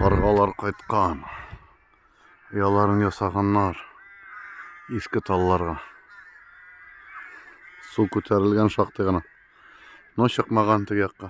Каргалар кайткан. Яларын ясаганнар. Иске талларга. Су күтәрелгән шактый гына. Но чыкмаган теге якка.